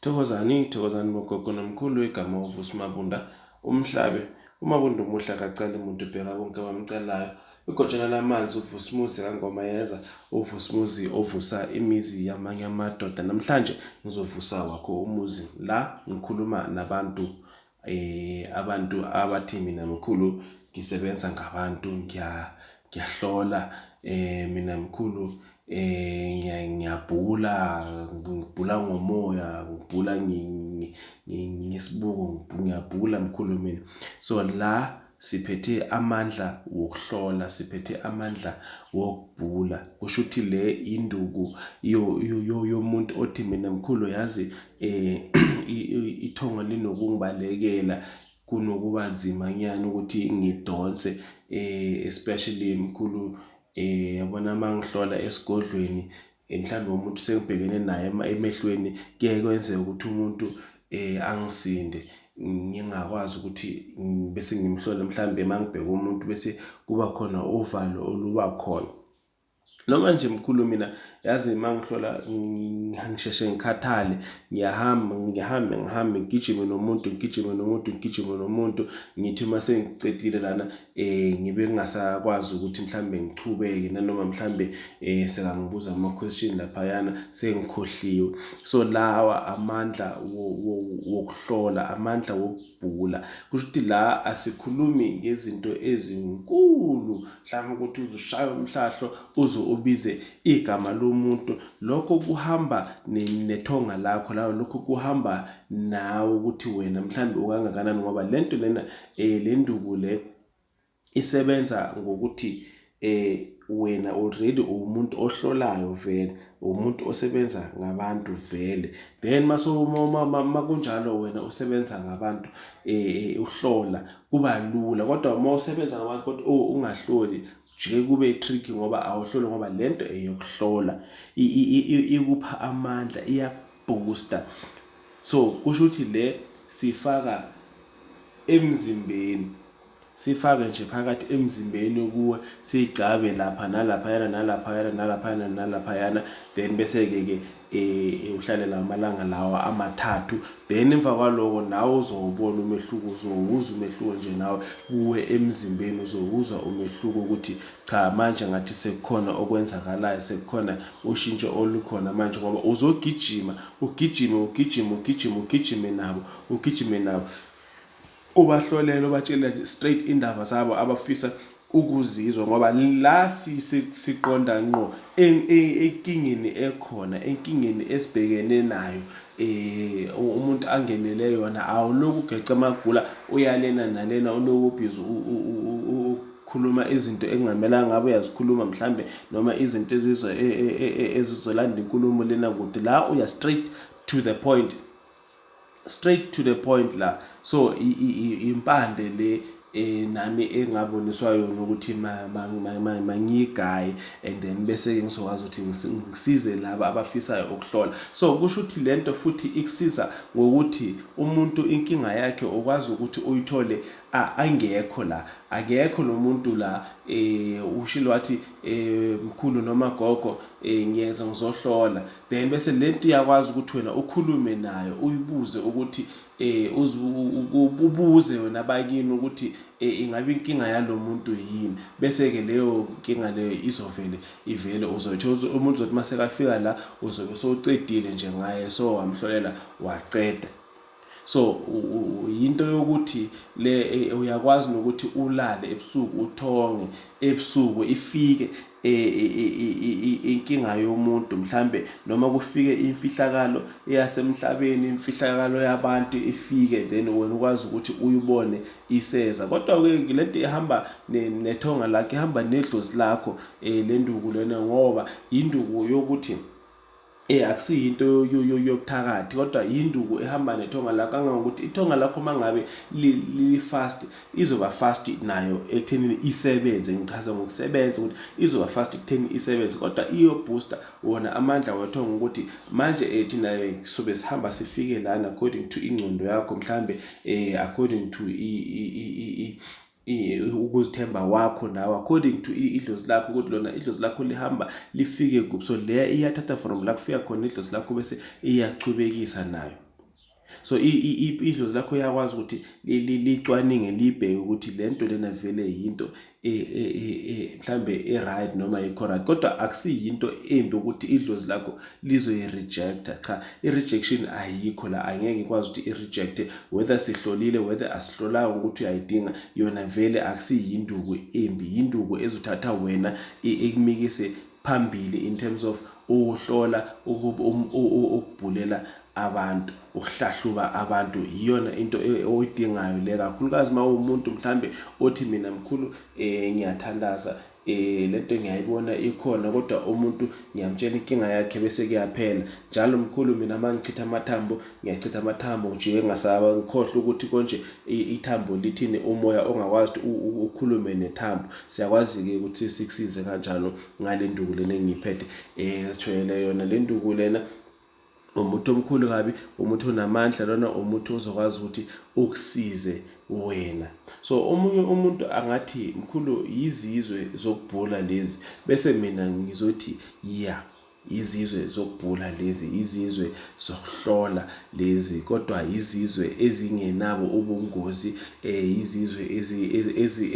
Thokozani thokozani bogogo nomkhulu igama uVusi Mabunda umhlabe uMabunda umuhle akacali muntu ubheka bonke abamcalayo igojana lamanzi uVusimuzi kangoma yeza uVusimuzi ovusa imizi yamanye amadoda namhlanje ngizovusa wakho umuzi la ngikhuluma nabantu Eh abantu abathi mina mkhulu ngisebenza ngabantu ngiya ngiyahlola eh mina mkhulu eh ngiya ngiyabhula ngibhula ngomoya ngibhula ngi- ngi- ngi- ngesibuko ngibhula mkhulu mina so la Siphethe amandla wokuhlola, siphethe amandla wokubhula. Kusho ukuthi le induku yomuntu othi mina mkhulu yazi um ithongo linokungibalekela kunokuba nzima nyana ukuthi ngidonse um especially mkhulu um yabona uma ngihlola esigodlweni mhlawumbe umuntu sengibhekene naye emehlweni kuye kwenzeka ukuthi umuntu eh angisinde ngingakwazi ukuthi bese ngimhlole mhlawumbe mangibheka umuntu bese kuba khona uvalo oluba khona noma nje mkhulu mina yazi mangihlola ngisheshe ngikhathale ngiyahamba ngihambe ngihambe ngigijime nomuntu ngigijime nomuntu ngigijime nomuntu ngithi uma sengicedile lana eh ngibe ngingasakwazi ukuthi mhlambe ngichubeke nanoma mhlambe eh sekangibuza ama question laphayana sengikhohliwe so lawa amandla wokuhlola amandla wokubhula kusho ukuthi la asikhulumi ngezinto ezinkulu mhlawumbe ukuthi uzushaya umhlahlo uze ubize igama lomuntu lokho kuhamba nethonga lakho lawo lokho kuhamba nawe ukuthi wena mhlawumbe ukangakanani ngoba lento lena eh le nduku le isebenza ngokuthi eh wena already uwumuntu ohlolayo vele umuntu osebenza ngabantu vele then uma kunjalo wena usebenza ngabantu um uhlola kuba lula kodwa uma usebenza ngabantu kodwa oh, ungahloli jike kube tricky ngoba awuhloli ngoba le nto eyokuhlola ikupha amandla iyakubhusta so kusho ukuthi le sifaka emzimbeni sifake nje phakathi emzimbeni kuwe sigcabe lapha nalaphayana nalaphayana nalaphayana nalaphayana then bese-ke ke um uhlalela amalanga lawa amathathu then emva kwaloko nawe uzowubona umehluko uzowuza umehluko nje nawe kuwe emzimbeni uzowuza umehluko ukuthi cha manje ngathi sekukhona okwenzakalayo sekukhona ushintsho olukhona manje ngoba uzogijima ugijime ugijime ugijime ugijime nabo ugijime nabo ubahlolele ubatshele straight indaba zabo abafisa ukuzizwa ngoba la siqonda ngqo enkingeni ekhona enkingeni esibhekene nayo eh umuntu angenele yona awuloku ugeca amagula uyalena nalena unokubhizi khuluma izinto ekungamelanga ngabe uyazikhuluma mhlambe noma izinto ezizo e, e, e, ezizolanda inkulumo lena kude la uya straight to the point straight to the point la so impande le eh nami engaboniswa yona ukuthi mangiyigaye and then bese ke ngizokwazi ukuthi ngisize laba abafisayo ukuhlola so kusho ukuthi lento futhi ikusiza ngokuthi umuntu inkinga yakhe ukwazi ukuthi uyithole angekho la akekho lo muntu la eh ushilo wathi eh mkhulu noma gogo eh ngiyeza ngizohlola then bese lento iyakwazi ukuthi wena ukhulume nayo uyibuze ukuthi eh ubuze wena bakini ukuthi eh, ingabe inkinga yalomuntu yini bese ke leyo inkinga leyo izovele ivele uzothi umuntu uzothi masekafika la uzobe sowucedile nje ngaye so wamhlolela waqeda So yinto yokuthi le e, uyakwazi nokuthi ulale ebusuku uthonge ebusuku ifike e, e, inkinga yomuntu mhlambe noma kufike imfihlakalo eyasemhlabeni imfihlakalo yabantu ifike then wena ukwazi ukuthi uyibone iseza kodwa ke lento ihamba nethonga lakhe ihamba nedlozi lakho eh, lenduku lena ngoba induku yokuthi Eh akusiyo into yobuthakathi kodwa yinduku ehamba nethonga lakho kangangokuthi ithonga lakho mangabe li fast izoba fast nayo ekuthenini isebenze ngichaza ngokusebenza ukuthi izoba fast ekutheni isebenze kodwa iyo booster wona amandla wethonga ukuthi manje eh thina eh, sobe sihamba sifike lana according to ingcondo yakho mhlambe eh according to i ukuzithemba kwakho nawe according to idlozi lakho ukuthi lona idlozi lakho lihamba lifike kuphi so leya iyathatha from la kufika khona idlozi lakho bese iyachubekisa nayo so idlozi lakho iyakwazi ukuthi licwaninge libheke ukuthi le nto lena vele yinto e, e, e, mhlambe e-right noma ikho-right kodwa akusiyinto embi ukuthi idlozi lakho lizoyi-rejecta cha i-rejection ayikho la angeke ikwazi ukuthi i-rejecte whether sihlolile whether asihlolanga ukuthi uyayidinga yona vele akusiyinduku embi yinduku ezothatha wena ikumikise phambili in terms of ukuhlola um, ukubhulela abantu ukuhlahluba abantu iyona into e, oyidingayo le kakhulukazi uma uwumuntu mhlambe othi mina mkhulu um ngiyathandaza Eh lento ngiyayibona ikhona kodwa umuntu ngiyamtshela inkinga yakhe bese kuyaphela. Njalo mkhulu mina mangichitha amathambo, ngiyachitha amathambo ngijike ngasaba ngikhohle ukuthi konje ithambo lithini umoya ongakwazi ukuthi ukhulume nethambo. Siyakwazi ke ukuthi sikusize kanjalo ngale nduku lena engiyiphethe. Eh sithwele yona le nduku lena umuthi omkhulu kabi umuthi onamandla lona umuthi ozokwazi ukuthi ukusize wena so omunye umuntu angathi mkhulu yizizwe zokubhula lezi bese mina ngizothi ya yeah. izizwe zokubhula lezi izizwe zokuhlola lezi kodwa izizwe ezingenabo ubungozi eh izizwe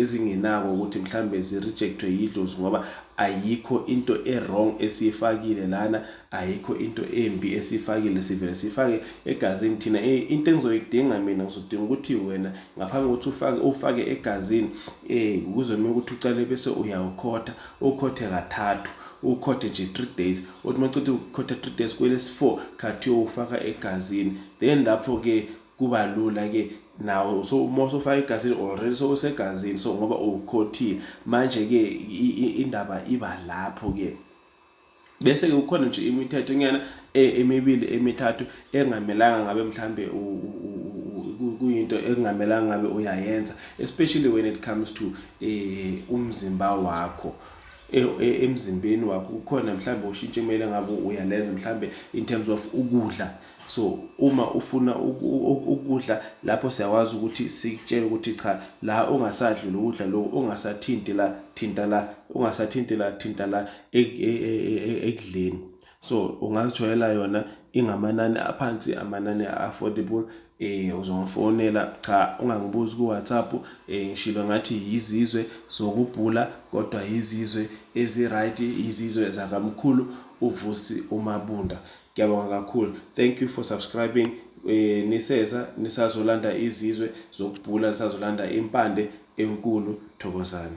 ezingenabo ukuthi mhlambe zirejectwe yidlozi ngoba ayikho into ewrong esiyifakile lana Ayikho into embi esiyifakile sivele siyifake egazini thina um into engizoyidinga mina ngizodinga ukuthi wena ngaphambi kokuthi ufake ufake egazini um kuzomele ukuthi ucale bese uyawukhotha ukhothe kathathu ukhothe nje three days othi uma ceda ukukhotha three days kwelesi-four khathi uyowufaka egazini then lapho-ke kuba lula-ke nawo so uma usofaka egazini already sowusegazini so ngoba uwukhothile manje-ke indaba iba lapho-ke bese-ke kukhona nje imithetho nyana e, emibili emithathu engamelanga ngabe mhlambe kuyinto ekungamelanga ngabe uyayenza especially when it comes to eh umzimba wakho e, e, emzimbeni wakho kukhona mhlambe ushintshe kumele ngabe uyalenza mhlambe in terms of ukudla so uma ufuna ukudla lapho siyakwazi ukuthi sikutshele ukuthi cha la ungasadli lokudla lokho ungasathinti la thinta la ungasathinti la thinta la e, e, e, ekudleni so ungazitholela yona ingamanani aphansi amanani affordable eh uzongifonela cha ungangibuzi ku WhatsApp eh ngishilo ngathi yizizwe zokubhula kodwa yizizwe ezi right izizwe zakamkhulu uvusi umabunda Ngiyabonga kakhulu. Thank you for subscribing. Eh, niseza nisazolanda izizwe zokubhula nisazolanda impande enkulu thokozani.